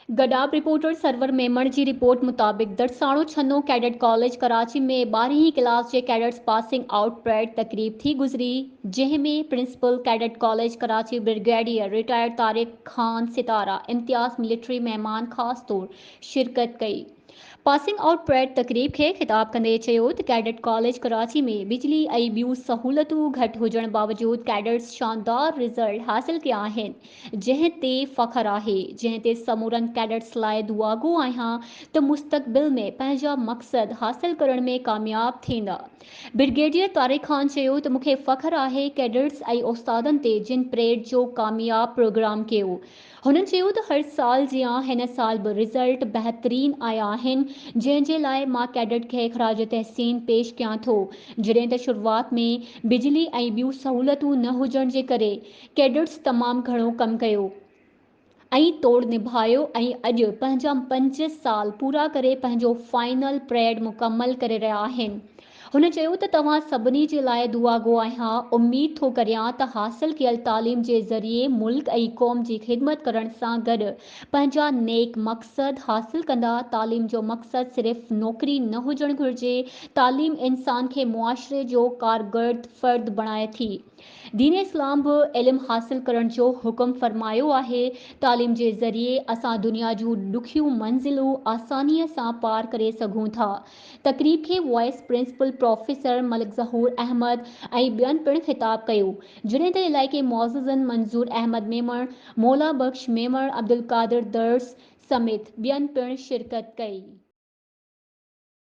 Gadap reporter Sarwar Memon جي report مطابق Darsano Chhano cadet college Karachi ۾ ٻارهين هين ڪلاس جي ڪيڊٽس پاسنگ آئوٽ پريڊ تقريب ٿي گذري جنهن ۾ principal cadet college Karachi brigadier retired Tariq Khan Sitara Imtiaz military مهمان خاص طور شرڪت ڪئي. پاسنگ آئوٽ پريڊ تقريب کي خطاب ڪندي چيو ته ڪيڊٽ ڪاليج ڪراچي ۾ بجلي ۽ ٻيون سهولتون گهٽ هجڻ باوجود ڪيڊٽس شاندار رزلٽ حاصل ڪيا آهن جنهن تي فخر آهي جنهن تي سمورن ڪيڊٽس لاء دعاگو آهيان ته مستقبل ۾ پنهنجا مقصد حاصل ڪرڻ ۾ ڪامياب ٿيندا برگيڊيئر طارق خان چيو ته مون کي فخر آهي ڪيڊٽس ۽ استادن تي جن پريڊ جو ڪامياب پروگرام ڪيو هن چيو ته هر سال جيان هن سال به رزلٽ بهترين آيا آهن جنهن جي لاء مان ڪيڊٽ کي خراج تحسين پيش ڪيان ٿو جڏهن ته شروعات ۾ بجلي ۽ ٻيون سهولتون نه هجڻ جي ڪري ڪيڊٽس تمام گهڻو ڪم ڪيو ۽ توڙ نڀايو ۽ اڄ پنهنجا پنج سال پورا ڪري پنهنجو فائنل پريڊ مڪمل ڪري رهيا آهن هن چيو ته توهان سڀني جي لاء دعاگو آهيان، اميد ٿو ڪريان ته حاصل ڪيل تعليم جي ذريعي ملڪ ۽ قوم جي خدمت ڪرڻ سان گڏ پنهنجا نيڪ مقصد حاصل ڪندا، تعليم جو مقصد صرف نوڪري نه هجڻ گهرجي، تعليم انسان کي معاشري جو ڪارگرد فرد بڻائي ٿي، دين اسلام به علم حاصل ڪرڻ جو حڪم فرمايو آهي، تعليم جي ذريعي اسان دنيا جون ڏکيون منزلون آسانيء سان پار ڪري سگهون ٿا، تقريب کي vice principal professor Malik Zahoor Ahmed ۽ ٻين پڻ خطاب ڪيو، جڏهن ته علائقي معززن منظور احمد ميمڻ، مولا بخش ميمڻ، عبدالقادر درس سميت ٻين پڻ شرڪت ڪئي.